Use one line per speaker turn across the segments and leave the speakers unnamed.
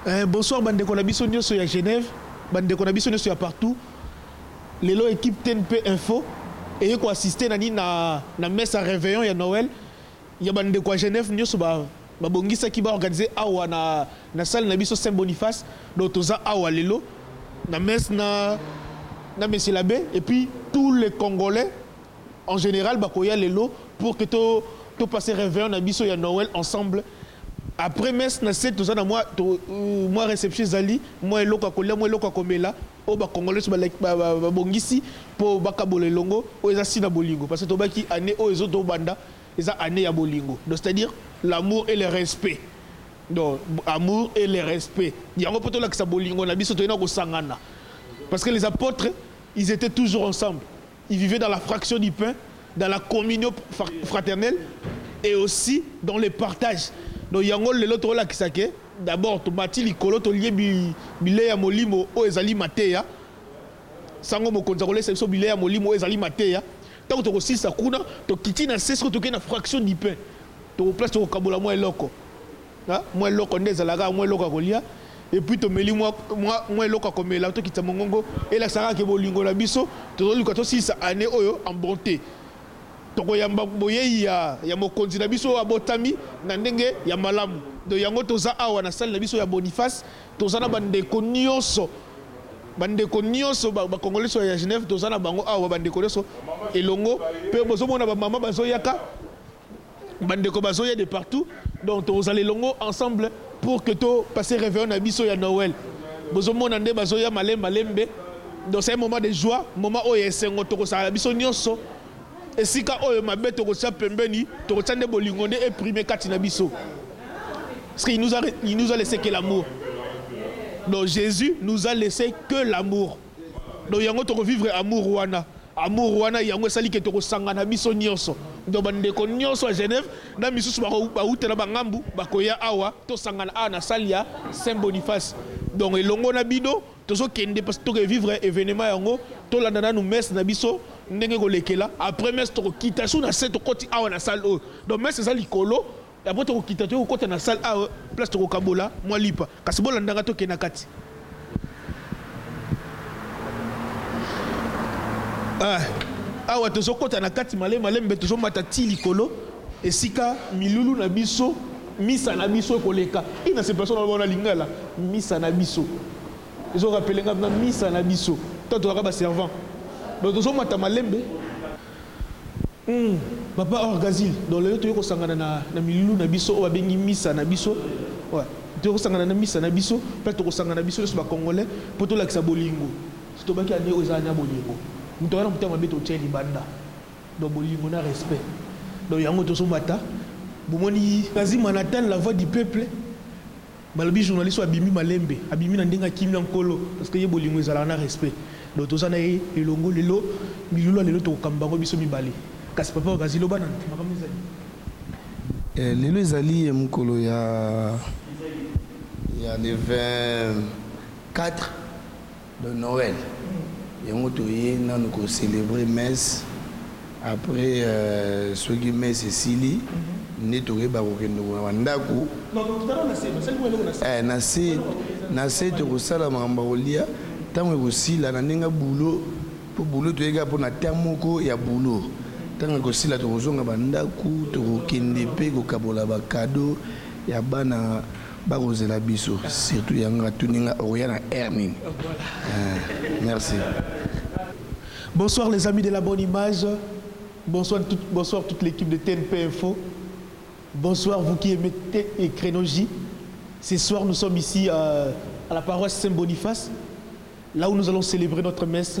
Eh, bonsoir bandeko na biso nyonso ya Genève, bandeko na biso nyonso ya partout. Lelo équipe TNP Info eye ko assister na nini na na messe ya réveillon ya Noël. Ya ba ndeko ya Genève nioso ba ba bongisaki ba organiser awa na na salle na biso Saint Boniface donc toza awa lelo na messe na na monsieur l'abbe et puis tous les congolais en general ba koya lelo pour que to to passer reveillon na biso ya Noël ensemble après messe na se toza na mua to mua reception ezali mua eloko ya kolia mua eloko ya komela oyo ba congolais nioso ba laki ba ba bongisi po ba kabola elongo oyo eza signe ya bolingo parce que tobaki annee oyo ezo to banda Eza annee ya bolingo donc c'est à dire l'amour et le respect donc amour et le respect yango po tolakisa bolingo na biso toye na kosangana parce que les apotres ils etaient toujours ensemble ils vivaient dans la fraction du pain dans la communion fraternelle et aussi dans le partage donc yango lelo tokolakisa ke d'abord tomati likolo tolie bilei ya molimo oyo ezali mateya sango mokonzi akolesa biso bilei ya molimo oyo ezali mateya Tango toko silisa kuna tokiti na se sikoyo tokeyi na fraction du pain toko place toko kabola mua eloko ha mua eloko nde ezalaka awa mua eloko ya kolia et puis tomeli mua mua mua eloko ya komela tokitisa mongongo elakisa kaka ke bolingo na biso tozo luka tosilisa annee oyo en bonte toko yamba boyeyi ya ya mokonzi na biso oyo abotami na ndenge ya malamu donc yango toza awa na salle na biso ya Boniface Toza na ba ndeko nioso ba ndeko nioso ba congolais ya Genève toza na bango awa ba ndeko nioso elongo pe bozo mona ba maman bazo yaka ba ndeko bazo ya de partout donc toko zala elongo ensemble pour que to passer reveillon na biso ya Noël bozo mona nde bazo ya malembe malembe donc c'est un moment de joie moment oyo ya esengo toko sala biso nioso esika oyo mabe toko tia pembeni toko tia nde bolingo nde e primer kati na biso. Parce qu'il nous, a, il nous a laissé que l'amour. Donc Jésus nous a laissé que l'amour. Donc yango toko vivre amour wana. Amour wana yango esali ke toko sangana biso nyonso. Donc bandeko nyonso à Genève na misusu bauta na bangambu bakoya awa to sangana awa na salle ya Saint Boniface. Donc elongo na bino tozo kende parce que toko vivre événement yango tolanda nanu messe na biso ndenge kolekela après messe tokokita sur na se tokoti awa na salle oyo. Donc messe eza likolo D'abord tokokita toye kokota na salle awa place tokokabola mwa lipa kasi bolanda nga tokende na kati ah, awa tozokota na kati malemi malemi mbe tozomata ti likolo esika milulu na biso misa na biso ekoleka i na sepelation na loba na lingala misa na biso ezorapele nga na misa na biso ntango tozalaka baservant donc tozomata malembe Hum papa orgazil donc lelo toye kosangana na na milulu na biso oyo babengi misa na biso ouais toye kosangana na misa na biso pe tokosangana biso nioso ba congolais po tolakisa bolingo tobaki annee oyo eza annee ya bolingo moto aza na motema mabe totia ye libanda donc bolingo na respect donc yango tozomata bomoni. Kazima Nathan la voix du peuple. Balobi journaliste oyo abimi malembe, abimi na ndenge ya kimia nkolo, parce que ye bolingo ezalaka na respect, donc toza na ye elongo lelo, milulu ya lelo toko kamba yango biso mibale, kasi papa wakazi loba na makambo ezali. Ee,
lelo ezali mokolo ya le 24 Donc Noël yango toye nanu ko celebrer messe après soki messe esili nde tokoyeba kokende ko ba ndaku eh na se na se tokosala makambo ya kolia tango ekosila na ndenge ya boulot po boulot toye kaka pona temps moko ya boulot tango ekosila tokozonga ba ndaku tokokende pe kokabola ba cadeaux ya bana Bako zela biso surtout yango nga tuni nga okoya na heure nini eeh merci.
Bonsoir les amis de la bonne image, bonsoir, tout, bonsoir toute l'équipe de TNP Info, bonsoir vous qui aimez et Crénogie. Ce soir nous sommes ici euh, à la paroisse Saint-Boniface, là où nous allons célébrer notre messe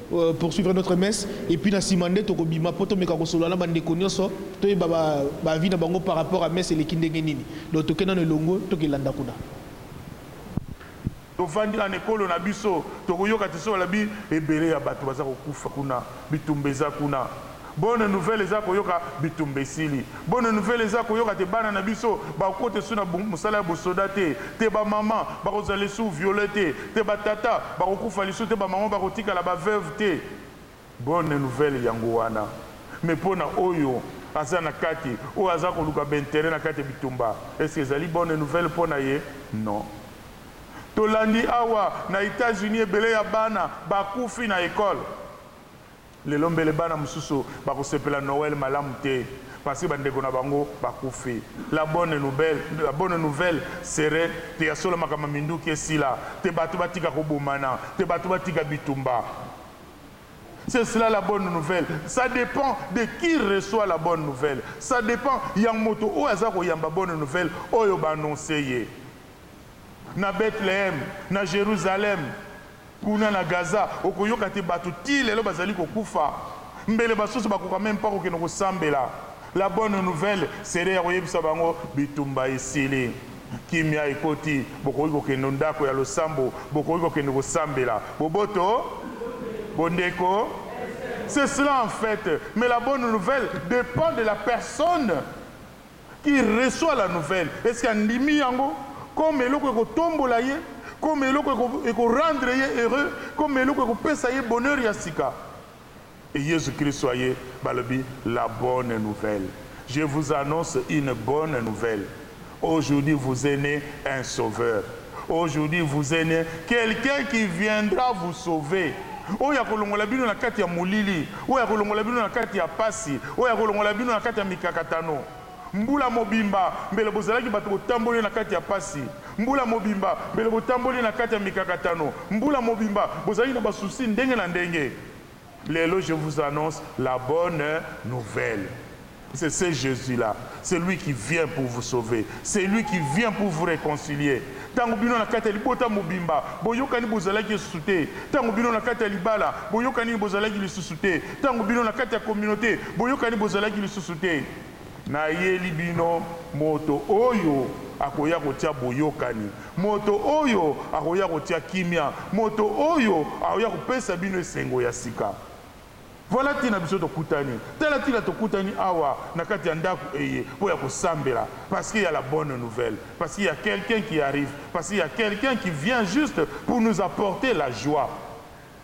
poursuivre notre messe et puis na sima nde toko bima po to meka ko solola na ba ndeko nionso to yeba ba ba avis na bango par rapport à messe eleki ndenge nini donc toke nanu elongo toke landa kuna. Tovandi
na n'ekolo na biso tokoyoka te soki balobi ebele ya batu baza kokufa kuna bitumba eza kuna. Bonne nouvelle eza koyoka bitumba esili bonne nouvelle eza koyoka te bana na biso bakokota esu na musala ya bosoda te te ba maman bakozala esu viole te te ba tata bakokufa lisu te ba maman bakotikala ba veuve te bonne nouvelle yango wana mais pona oyo aza na kati oyo aza koluka ba interet na kati ya bitumba est ce que ezali bonne nouvelle pona ye non tolandi awa na etats unis ebele ya bana bakufi na ecole. Lelo mbele bana mosusu bakosepela Noele malamu te parceque bandeko na bango bakufi. La bonne noubelle, la bonne nouvelle serait que ya solo makambo ya minduki esila, que batu batika kobomana, que batu batika bitumba. C'est cela la bonne nouvelle. Ça depend de qui reçoit la bonne nouvelle. Ça depend ya moto oyo aza koyamba bonne nouvelle oyo ba annoncer ye. Na Bethlehem, na Jerusalem, kuna na Gaza, okoyoka te bato tii lelo bazali kokufa. Mbele basusu bakoka meme pas kokende kosambela. La bonne nouvelle serait ya koyebisa bango bitumba esili, kimia ekoti, bokoki kokende o ndako ya losambo, bokoki kokende kosambela. Boboto, bondeko, c'est cela en fait, mais la bonne nouvelle depend de la personne Qui reçoit la nouvelle est ce que andimi yango comme eloko eko tombola ye, comme eloko eko rendre ye heureux, comme eloko eko pesa ye bonheur ya sika? Et Yezu Kristo aye balobi la bonne nouvelle je vous annonce une bonne nouvelle aujourd'hui vous est ne un sauveur. Aujourd'hui vous est ne quelqu'un qui viendra vous sauver oyo akolongola bino na kati ya molili, oyo akolongola bino na kati ya pasi, oyo akolongola bino na kati ya mikakatano. Mbula mobimba mbele bozalaki bato botamboli na kati ya pasi, mbula mobimba mbele botamboli na kati ya mikakatano, mbula mobimba bozalaki na ba soucis ndenge na ndenge. Lelo je vous annonce la bonne nouvelle c'est ce Jesus là c'est lui qui vient pour vous sauver c'est lui qui vient pour vous reconcilier tango bino na kati ya libota mobimba boyokani bozalaki esusu te tango bino na kati ya libala boyokaningi bozalaki lisusu te tango bino na kati ya communaute boyokani bozalaki lisusu te Nayeli bino, moto oyo akoya kotia boyokani, moto oyo akoya kotia kimia, moto oyo akoya kopesa bino esengo ya sika. Voila tina biso tokutani. Tala tina tokutani awa na kati ya ndaku eye po ya kosambela, parce qu'il ya la bonne nouvelle, parce qu'il ya quelqu'un qui arrive, parce qu'il ya quelqu'un qui vient juste pour nous apporter la joie.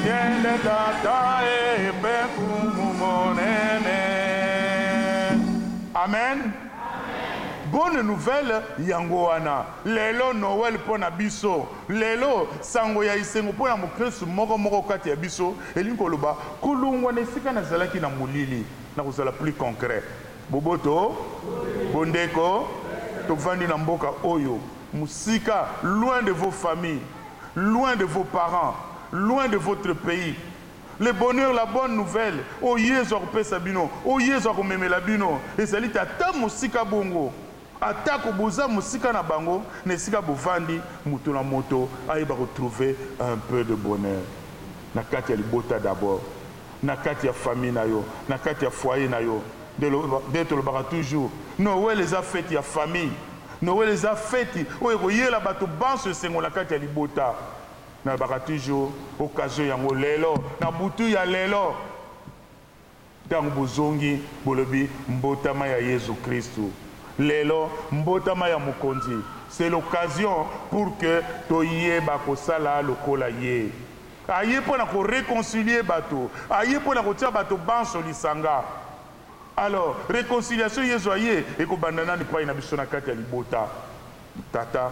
Nkele Tata ee mpe Nkumu Monene. Amen. Bonne nouvelle yango wana lelo Noël mpo na biso. Lelo, sango ya esengo mpo na mokristu moko moko kati ya biso, elingi koloba kolongwa na esika nazalaki na molili. Na kozala plus concret, boboto, bondeko, tovandi na mboka oyo. Mosika, loin de vos familles, loin de vos parents, loin de votre pays, le bonheur, la bonne nouvelle oyo Yezu akopesa bino, oyo Yezu akomemela bino, ezali te ata mosika bongo. Atako boza mosika na bango, na esika bovandi, moto na moto ayeba ko trouver un peu de bonheur na kati ya libota d'abord. na kati ya famille na yo na kati ya foyer na yo nde tolobaka toujours Noël eza fete ya famille Noël eza fete oyo ekoyela bato banso esengo na kati ya libota nalobaka toujours occasion yango lelo na butu ya lelo ntango bozongi bolobi mbotama ya Yezu Kristu lelo mbotama ya mokonzi c'est l'occasion pour que toyeba kosala lokola ye. Aye mpo na ko reconcilier bato. Aye mpo na kotia bato banso lisanga. Alors, reconciliation Yezu aye, ekobanda nanu epai na biso na kati ya libota. Tata,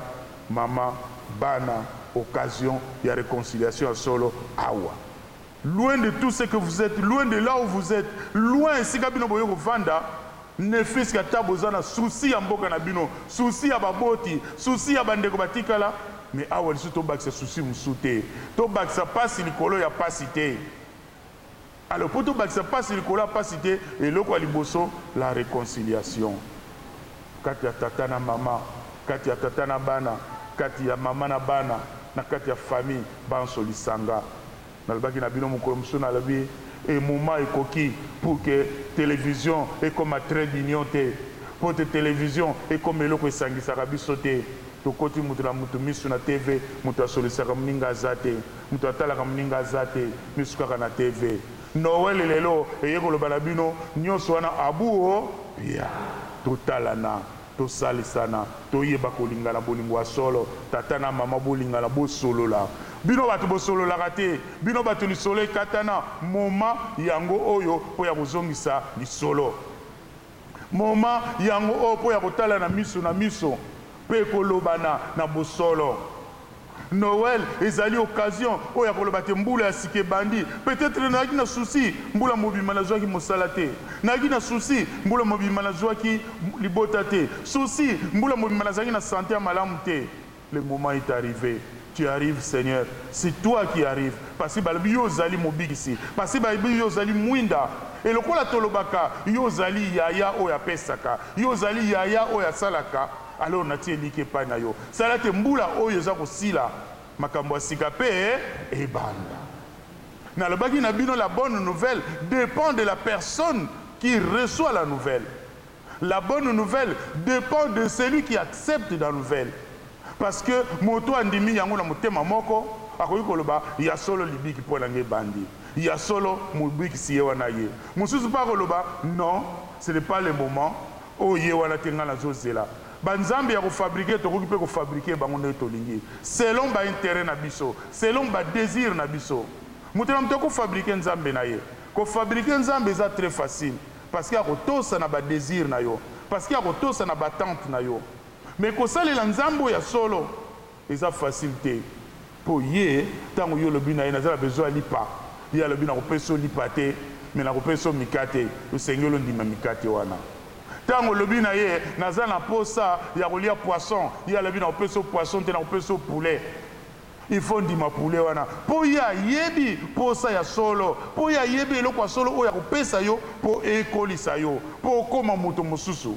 mama, bana, occasion ya reconciliation ya solo awa. Loin de tout ce que vous etes, loin de là où vous etes, loin esika bino boye kovanda, Ne fils que ata boza na souci ya mboka na bino, souci ya ba boti, souci ya ba ndeko ba tikala mais awa lisusu to bakisa souci mosusu te. To bakisa pasi likolo ya pasi te. Alors po to bakisa pasi likolo ya pasi te, eloko ya liboso la reconciliation kati ya tata na mama, kati ya tata na bana, kati ya mama na bana, na kati ya famille banso lisanga. Nalobaki na bino mokolo mosusu, nalobi, e, moment ekoki pour que television ekoma trait d'union te, mpo ete television ekoma eloko esangisaka biso te. Tokoti moto na moto miso na TV, moto asolisaka moninga aza te, moto atalaka moninga aza te, miso kaka na TV. Noël lelo eye koloba na bino, nionso wana abuu, oh, pia! Totalana. Tosalisana toyeba kolingana bolingo ya solo tata na mama bolingana bosolola bino batu bosololaka te bino batu lisolo ekatana moment yango oyo po ya kozongisa lisolo moment yango oyo po ya kotalana miso na miso pe kolobana na bosolo. Noël ezali occasion oyo ya koloba te mbula ya sika ebandi. Peut-etre nayaki na souci mbula mobimba nazuaki mosala te. Nayaki na souci mbula mobimba nazuaki libota te. Souci mbula mobimba nazalaki na sante ya malamu te. Le moment est arrive, tu arrives Seigneur, c'est toi qui arrive parce que balobi yo ozali mobikisi, parce que balobi yo ozali mwinda et lokola tolobaka yo ozali yaya oyo apesaka, yo ozali yaya oyo asalaka. Alors natie elikya epai na yo, sala ete mbula oyo eza kosila, makambo ya sika mpe ebanda. Nalobaki na bino, la bonne nouvelle depend de la personne qui reçoit la nouvelle. La bonne nouvelle depend de celui qui accepte la nouvelle. Parce que moto oyo andimi yango na motema moko, akoki koloba, Ya solo libiki mpo na ngai ebandi. Ya solo, Mobikisi ye wana aye. Mosusu mpe akoloba, Non, ce n'est pas le moment. Oyo ye wana te ngai nazo zela ba nzambe yako fabrique tokoki pe ko fabrique bango ndenge tolingi selon ba interet na biso selon ba desir na biso moto na moto ako fabrique nzambe na ye ko fabrique nzambe eza tres facile parce que ako tosa na ba desir na yo parce que ako tosa na ba attente na yo mais ko salela nzambe oyo ya solo Eza facile te po ye tango yo olobi naye naza na besoin ya lipa ye alobi nako pesa yo lipa te mais nako pesa yo mikate esengeli ondima mikate wana tango olobi naye naza na posa ya kolia poisson ye alobi nako pesa yo poisson te nako pesa yo poulet il faut ondima poulet wana po ye ayebi posa ya solo po ye ayebi eloko ya solo oyo ako pesa yo po ekolisa yo po okoma moto mosusu.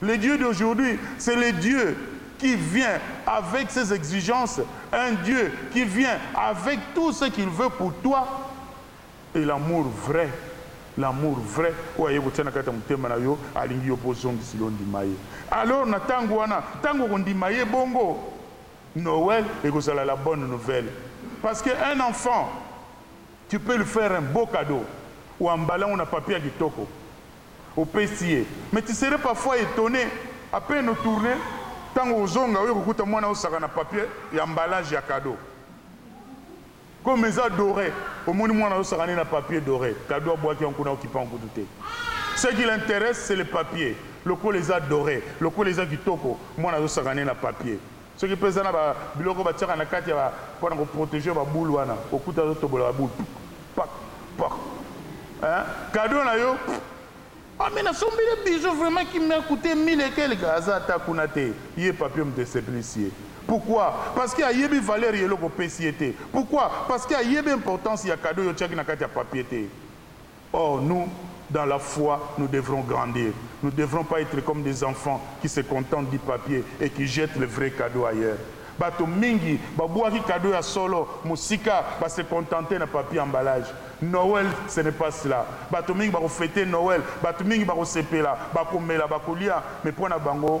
Le Dieu d'aujourd'hui c'est le Dieu qui vient avec ses exigences, un Dieu qui vient avec tout ce qu'il veut pour toi et l'amour vrai, l'amour vrai oyo aye kotia na kati ya motema na yo, alingi yo po ozongisi yo ondima ye. Alors na tango wana, tango okondima ye bongo, Noël ekozala la bonne nouvelle parce que un enfant tu peux lui faire un beau cadeau, oemballer yango na papier ya kitoko, Opesi ye mais tu serais parfois etonne a peine o tourne tango ozonga oye kokuta muana yo sac na papier ya emballage ya cadeau comme eza dore omoni muana yo sac ne na papier dore cadeau abuaki yango kuna okipa yango kutu te ce qui l'interesse c'est le papier lokola eza dore lokola eza kitoko muana yo sac ne na papier Soki pe eza na ba biloko ba tiaka na kati ya ba pona ko proteger ba boule wana okuta azo tobola ba boule puk pak pak hein cadeau na yo puk ah mais na sombeli ye bijoux vraiment qui m'a coute mille et quelques aza ata kuna te ye papillom te sepelisi ye pourquoi parce que ayebi valeur ya eloko opesi ye te pourquoi parce que ayebi importance ya cadeau yo otiaki na kati ya papier te. Or nous dans la foi nous devrons grandir nous devrons pas etre comme des enfants qui se contentent du papier et qui jettent le vrai cadeau ailleurs batu mingi ba buaki cadeau ya solo musika ba se contenter na papier emballage Noël ce n'est pas cela batu mingi bako feter Noël batu mingi bako sepela bako mela bako lia mais pona bango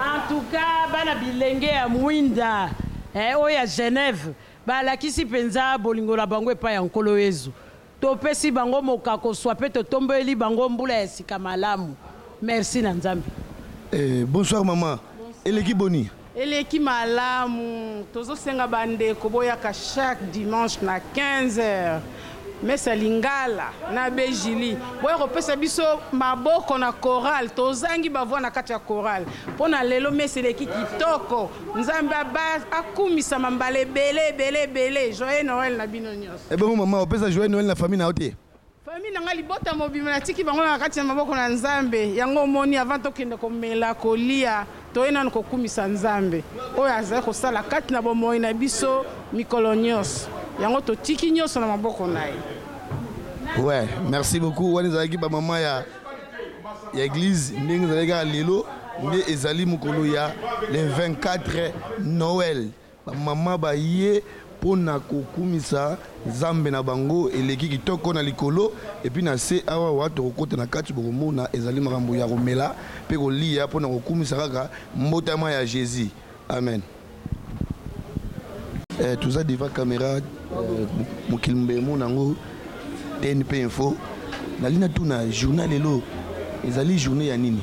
En tout cas, bana bilenge ya mwinda eh, oyo ya Genève balakisi mpenza bolingo na bango epai ya Nkolo Yezu. Topesi bango mokako swa mpe totombeli bango mbula ya sika malamu. Merci na Nzambe. Eh, bonsoir
maman. Eleki boni? Eleki
malamu. Tozo senga ba ndeko boyaka chaque dimanche na 15 heures messe ya lingala na Bejili boya kopesa biso maboko na chorale tozangi ba voix na kati ya chorale pona lelo messe eleki kitoko nzambe aba akumisama mbala ebele ebele ebele joyeux Noël na bino nionso. Ebongo maman opesa joyeux
Noël na famille na yo te? Famille na ngai libota
mobimba na tiki bango na kati na maboko na nzambe yango omoni avant tokende komela kolia toye nanu kokumisa nzambe oyo azali kosala kati na bomoyi na biso mikolo nionso yango totiki nionso na maboko na ye.
Ouais, merci beaucoup. Wana ezalaki ba maman ya ya église ndenge ezalaki kaka lelo nde ezali mokolo ya le 24 Noël. Ba mama baye po na kokumisa Nzambe na bango eleki kitoko na likolo epuis na se awa wa tokokota na kati bokomona ezali makambo ya komela pe koliya po na kokumisa kaka mbotama ya Jesus. Amen. Eh toza devant camera mokili mobimba emona yango TNP info nalingi natuna journee ya lelo ezali journee ya nini?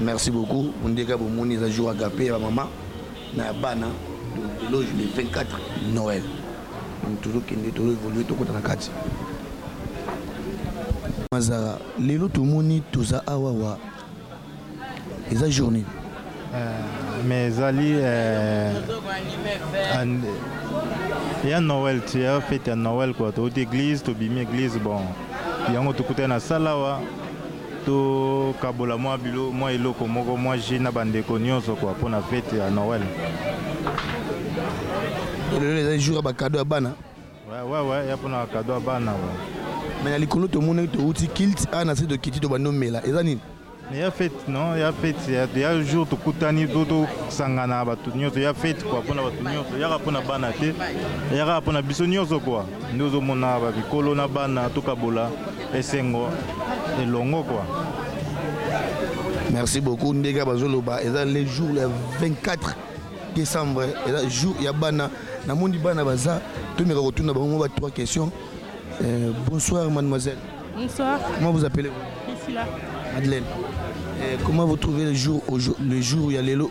Merci beaucoup mundeka bomoni eza jour agape ya ba mama na ya bana lelo le 24 Noël donc tozokende tozo évoluer tokota na kati mazara lelo tomoni toza awa wa eza journée euh,
mais ezali euh, ya noël ti ya fete ya noël kua touti église tobimi église bon yango tokutani na sala awa To kabola mwa bilo mwa eloko moko mwa jus na ba ndeko nionso quoi pona fete ya Noël.
Lelo eza jour ya ba cadeau ya bana. Ouais ouais ouais ya
pona cadeau ya bana ouais. Mais na likolo
to monaki to uti kilt a na se to kiti to bandi omela eza nini? Mais ya fete
non ya fete ya, ya jour to kutani to to sangana batu nionso ya fete quoi pona batu nionso yaka pona bana te yaka pona biso nionso quoi. Nde ozo mona ba mikolo na bana to kabola esengo elongo quoi. Merci
beaucoup ndega bazo loba eza le jour le 24 décembre eza jour ya bana na moni bana baza tomeka kotuna bango ba trois questions euh, bonsoir mademoiselle bonsoir comment
vous appelez vous
Priscilla
Madeleine
euh, comment vous trouvez le jour le jour ya lelo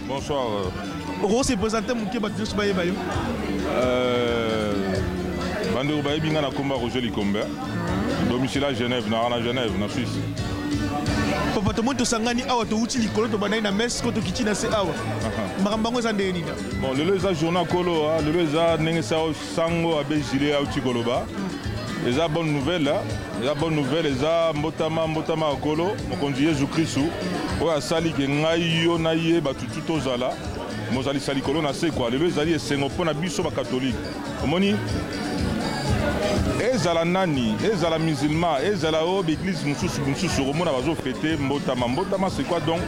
Bonsoir.
Oko se
presenter muke bato nyonso bayeba yo. Euh,
bandeko bayebi nga na komba Roger Likombe. Domicile à Genève, na na Genève, na Suisse.
Papa tomoni tosangani awa towuti likolo tobandaki na messe ko tokiti na se awa. Makambo yango eza ndenge nini? Bon, lelo eza journée
kolo, lelo eza ndenge sa Sango Abe Jules awuti koloba eza bonne nouvelle eza bonne nouvelle eza mbotama mbotama ya kolo mokonzi yezu kristu oyo asali ke ngai yo na ye bato tu tozala mozalisa likolo na se kwa lelo ezali esengo mpo na biso bakatolike omoni ezala nani ezala musulman ezala oyo baeglise mosusu mosusu okomona bazofete mbotama mbotama c'est quoi donc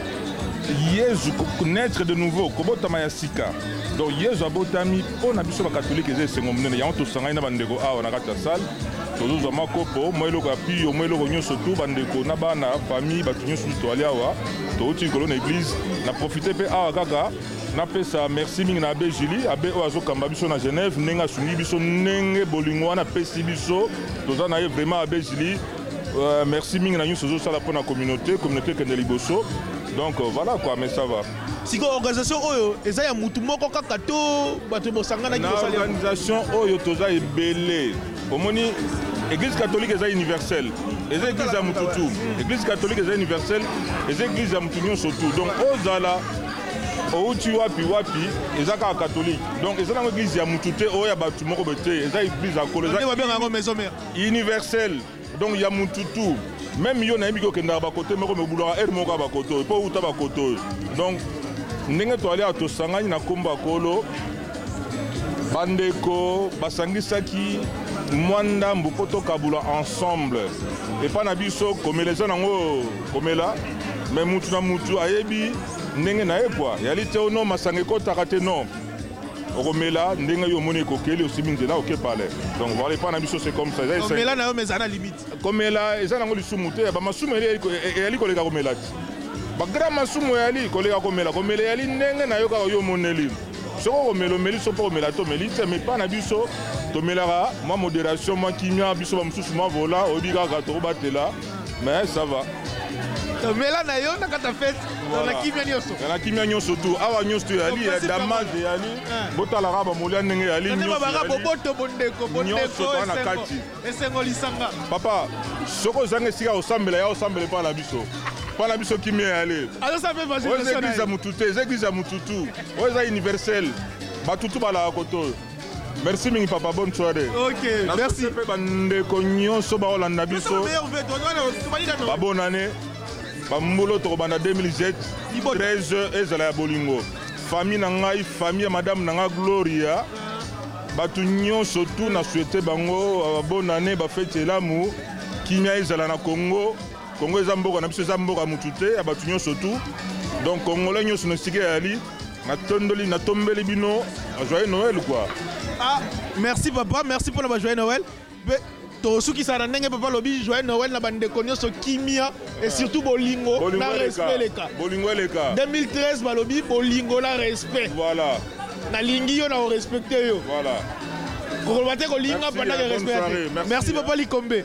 yezu naître de nouveau kobotama ya sika donc yezu abotami Mpo na biso bakatolike eza esengo monene, yango tosangani na bandeko awa na kati ya salle, tozozwa mwa kopo, mwa eloko ya piyo, mwa eloko nyonso tu, bandeko na bana, famille, bato nyonso tu toali awa, touti likolo na eglise. Na profiter mpe awa kaka napesa merci mingi na Abbe Julie, abbe oyo azokamba biso na Genève, ndenge asungi biso, ndenge bolingo wana apesi biso, toza na ye vraiment abbe Julie, euh, merci mingi na nyonso ozosala mpo na communaute, communaute ekende liboso, donc euh, voilà quoi, mais ça va. Sikoyo organisation
oyo eza ya mutu moko kaka to bato bosanganaki na organisation
oyo toza ebele omoni église catholique eza universelle eza église ya mutu tu église catholique eza universelle eza église ya mutu nyonso tu donc ozala outi wapi wapi eza kaka catholique donc eza nango église ya mutu te oyo ya bato moko boye te eza église ya kolo eza universelle Donc ya mutu tout meme yo nayebi ke okendaka ba kote moko me obulaka heure moko kaka ba kote oyo po outa ba kote oyo donc ndenge toali awa tosangani na kombo ya kolo bandeko basangisaki mwa ndambu mpo tokabula ensemble epai na biso komela eza nango komela me mutu na mutu ayebi ndenge na ye kua yali te ono masanga ekotaka te non okomela ndenge yo omoni ekokeli osimbi nzela oke pale donc voilà epai na biso c'est comme ça komela na yo mais ezala
limite komela eza nango
lisumu te ba masumu eyali koleka komela ti ba grand masumu eyali koleka komela komela eyali ndenge na yo kaka yo omoneli soki okomela omeli so mpo komela te omeli te mais epai na biso tomelaka mwa moderation mwa kimia biso bamosusu mwa vola oyebi kaka tokobatela Mais ça va. Mela
na yo na kata fete voilà. na kimia nyonso na kimia nyonso tu
awa nyonso tu yali ya damage yali eh. botalaka bamolia ndenge yali nyonsobaka boboto
bondeko bondeko na kati
esengo lisanga
papa
soki ozanga esika osambela ya osambela epai na biso epai na biso kimia yali oyo eza
eglise ya motu te eza eglise
ya motu tu oyo eza universel batutu balaka koto oyo Merci mingi papa, bonne soirée. Ok, merci.
Pe bandeko nyonso baolanda biso.
Ba bonne année. Ba mbolo tokobanda 2007. 13 ezala ya bolingo. Famille na ngai, famille ya madame na ngai Gloria. Bato nyonso tu na souhaite bango euh, bonne année, ba fete elamu. Kimia ezala na Congo. Congo eza mboka na biso eza mboka mutu te ya batu nyonso tu donc congolais nyonso na esika yali natondoli natombeli bino joyeux noël quoi ah
merci papa merci pona ba joyeux noël pe tosukisa na ndenge papa lobi joyeux noël na bandeko nyonso kimia et surtout bolingo na respect leka bolingo eleka 2013
balobi
bolingo na respect voilà
nalingi yo
na orespecte yo voilà
kokoloba te
kolinga pandake respect merci papa likombe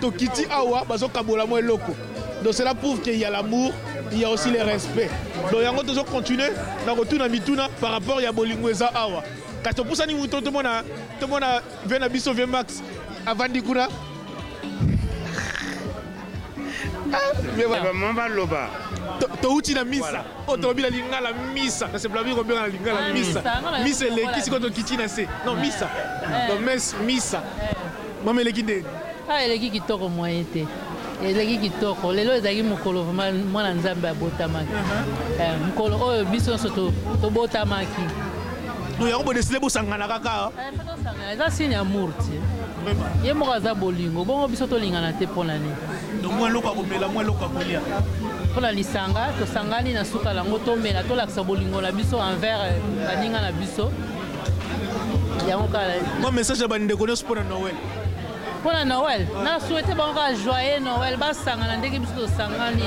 Tokiti awa bazo kabola mwa eloko donc cela prouve qu'il y a l'amour il y a aussi le respect donc yango tozo continuer na kotuna mituna par rapport ya bolingo eza awa kasi topusani moto tomona tomona vie na biso vie max avandi kuna
vraiment baloba touti na
misa oyo tolobi na lingala misa na sepelami kobenga na lingala ah, misa misa eleki sikoyo tokiti na se non misa eh. donc mes misa eh. Mama eleki ndeni? Ah eleki kitoko
moyen te. Eleki kitoko. Lelo ezalaki mokolo vraiment mwana Nzambe abotamaki. Uh -huh. Eh, mokolo oyo biso nyonso to, tobotamaki. Donc
yango bo décider bosangana kaka. Eh, faut tosangana. Eza signe
amour ti. Vraiment. Ye moko aza bolingo. Bongo biso tolingana te pona nini? Donc mwa eloko akomela,
mwa eloko akolia. Pona
lisanga tosangani na suka lango tomela tolakisa bolingo na biso envers eh, baninga na biso. yango kala mwa message ya bandeko
nyonso mpo na noel mpo na
noel na souhaite bango kaka joyeux noel basangana ndenge biso tosangani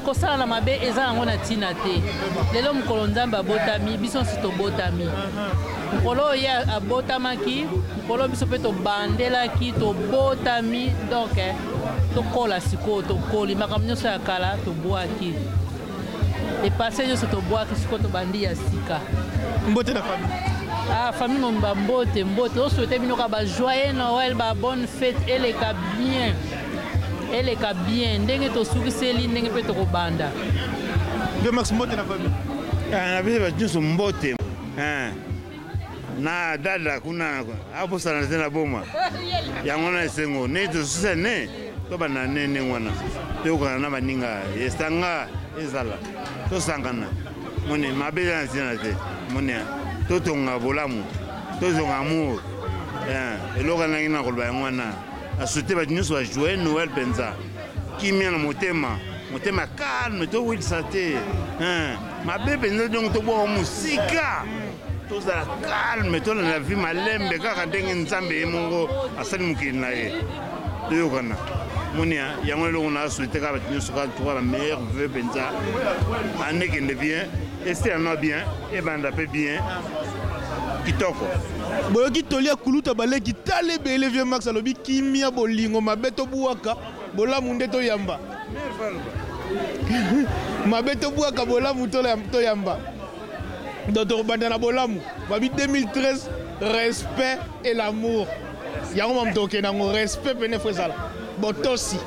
kosala na mabe eza yango na ntina te lelo mokolo nzambe abotami biso nsi tobotami mokolo oyo ye abotamaki mokolo biso mpe tobandelaki tobotami donk eh, tokola sikoyo tokoli makambo nyonso ya kala tobwaki Epasse nionso tobwaki sikoyo tobandi ya sika. Mbote na
famille. Ah famille
momba mbote mbote o souhaiter bino ka ba joyeux Noël ba bonne fête eleka bien eleka bien ndenge tosukiseli ndenge mpe tokobanda. Vieux
Max mbote na famille. Ah na bino ba
nionso mbote. Ah. na dada kuna abosana te na boma yango na esengo ne tosusa ne tobanda ne ndenge wana toyokana na baninga esanga ezala tosangana mone mabe eza na ntina te mone totonga bolamu tozonga amour eh, eloko nangi na koloba yango wana asute bato nyonso bajoue noel mpenza Kimia na motema, motema calme to wikisa te hein mabe penza donc to boko musika tozala calme to na vie malembe kaka ndenge nzambe ye moko asali mokili na ye toyokana monia yango eloko na souhaite kaka bato nyonso kaka tuka na meilleur vœu penza ane kende bien Esther no bien ebanda pe bien kitoko. Boyoki
toli ya kuluta ba leki tala ebele vieux max alobi kimia bolingo mabe to buaka bolamu nde to yamba mabe to buaka bolamu to yamba donc tokobanda na bolamu babi 2013 respect et l'amour yango mamu tokokende yango respect pene fo ezala botosi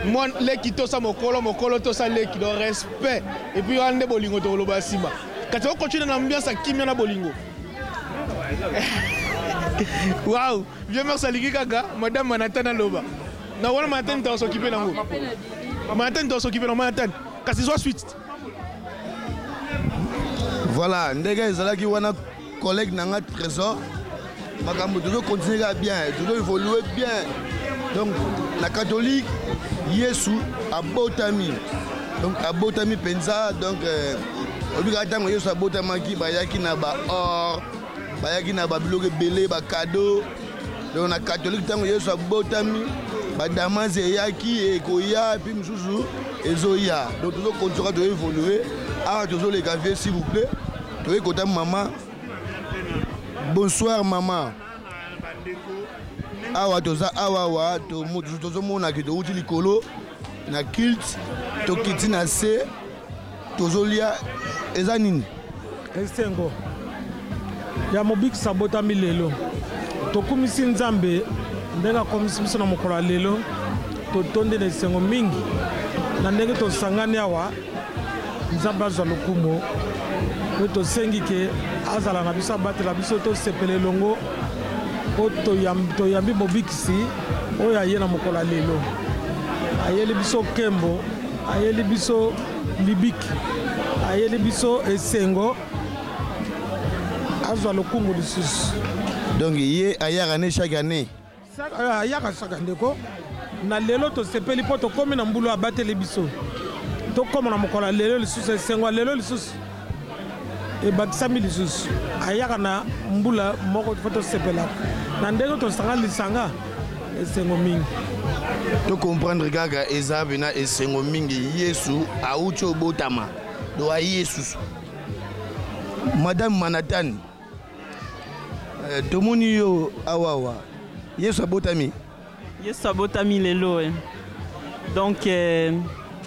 Mua leki tosa mokolo mokolo tosa leki donc respect et puis wana nde bolingo tokoloba nsima kasi o continue na ambiance ya kimia na bolingo Waouh, vieux Max alingi kaka madame Manhattan aloba. Na wana Manhattan ndio s'occuper nango. Manhattan ndio s'occuper na Manhattan. Kasi zwa suite.
Voilà, ndege ezalaki wana Collègue na nga Trésor, makambo tozo continuer kaka bien, tozo évoluer bien. Donc na catholique Yesu abotami. Donc abotami penza donc euh, oyebi kaka ntango Yesu abotamaki bayaki na ba or bayaki na ba biloko ebele ba cadeau donc na catholique ntango Yesu abotami badamase eyaki ekoya epi mosusu ezoya donc tozo continuer kaka tozo évoluer awa tozoleka vie s'il vous plaît Toye kota maman. Bonsoir maman. Awa toza awa wa tozo mona ke to uti likolo na culte to kiti na se tozo lia eza nini? Esengo
ya mobikisa abotami lelo. Tokumisi Nzambe ndenge akomisi biso na mokolo ya lelo. Totondi na esengo mingi na ndenge tosangani awa. Nzambe azwa lokumo pe tosengi ke azala na biso, abatela biso, tosepela elongo po toyambi Mobikisi oyo aye na mokolo ya lelo. Ayeli biso nkembo, ayeli biso libiki, ayeli biso esengo. Azwa lokumu lisusu. Donc ye
ayaka ne chaque annee? Saka yaka
saka ndeko na lelo tosepeli mpo tokomi na mbulu abateli biso tokoma na mokolo ya lelo lisusu esengo ya lelo lisusu ebakisami lisusu ayaka na mbula moko mpo tosepelaka na ndenge tosanga lisanga esengo mingi tokomprendre
kaka eza pena esengo mingi yesu auti obotama do aye lisusu madame manatani Eh, tomoni yo awawa yesu abotami yesu abotami
lelo eh. donc eh,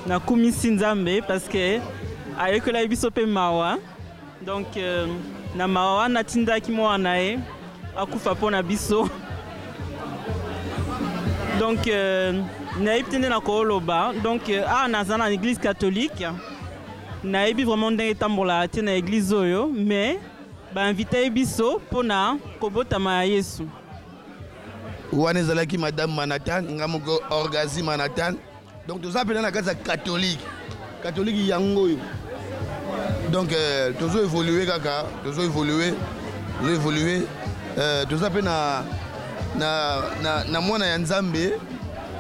nakumisi nzambe parce que ayekolaki biso mpe mawa donc eh, na mawa wana atindaki mwana na ye akufa mpo na biso donc eh, nayebi te nde nakoloba donc eh, awa naza na église catholique Nayebi vraiment ndenge etambola te na eglise oyo mais ba invite biso pona kobotama ya Yesu.
Wana ezalaki madame Manhattan, nga moko Orgazi Manhattan. Donc toza pena na kati ya catholique. Catholique yango oyo. Donc euh, tozo évoluer kaka, tozo évoluer, tozo évoluer. Euh, toza pe na na na, na mwana ya Nzambe,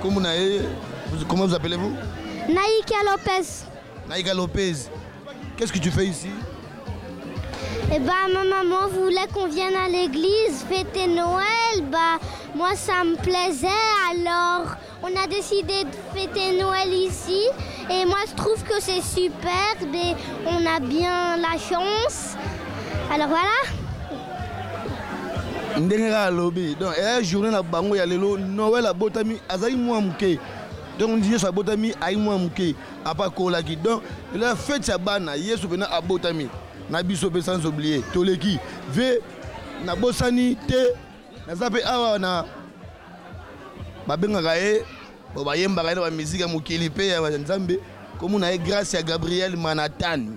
comme na ye, comment vous appelez-vous? Naïkia Lopez. Naïka Lopez, qu'est-ce que tu fais ici
Eh ben, ma maman voulait qu'on vienne à l'église fêter Noël. Bah, moi, ça me plaisait. Alors, on a décidé de fêter Noël ici. Et moi, je trouve que c'est superbe et on a bien la chance. Alors voilà.
ndenge kaka alobi donc eya journée na bango ya lelo noel abotami azali mwa moke Donc yesu abotami ayi mwana muke apa akolaki donc la fete ya bana yesu pena abotami na biso pe sans oublier toleki ve nabosani te naza pe awa na babengaka ye bo bayembaka ye na bamiziki ya mokili pe ya nzambe komona ye grace ya gabriel manatani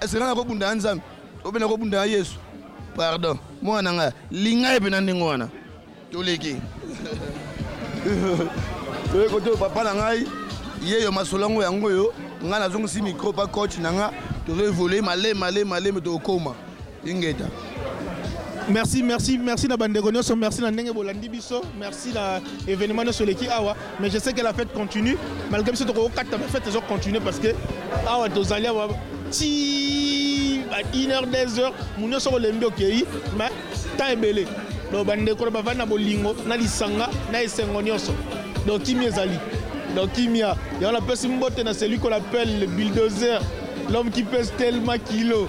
Est-ce que nako bunda na Nzambe? Ou bien nako bunda na Yesu? Pardon. Mwana na nga, linga ye pena ndenge wana. Toleki. Toye kote papa na ngai, ye yo masolo yango yango yo, nga nazongisi micro pa coach na nga, tozo evoluer male male male mais tokokoma. Ingeta.
Merci, merci, merci na bandeko nyoso, merci na ndenge bolandi biso, merci na événement nyoso leki awa, mais je sais que la fête continue, malgré biso toko kata mais fête ezo continuer parce que awa tozali awa ti ba 1 heure 2 heures, mun nyoso ko lembi okeyi, mais temps ebele. Donc bandeko na bavandi na bolingo, na lisanga, na esengo nyoso. Donc kimia ezali. Donc kimia, yango napesi mbote na celui qu'on appelle le bulldozer, l'homme qui pèse tellement kilo.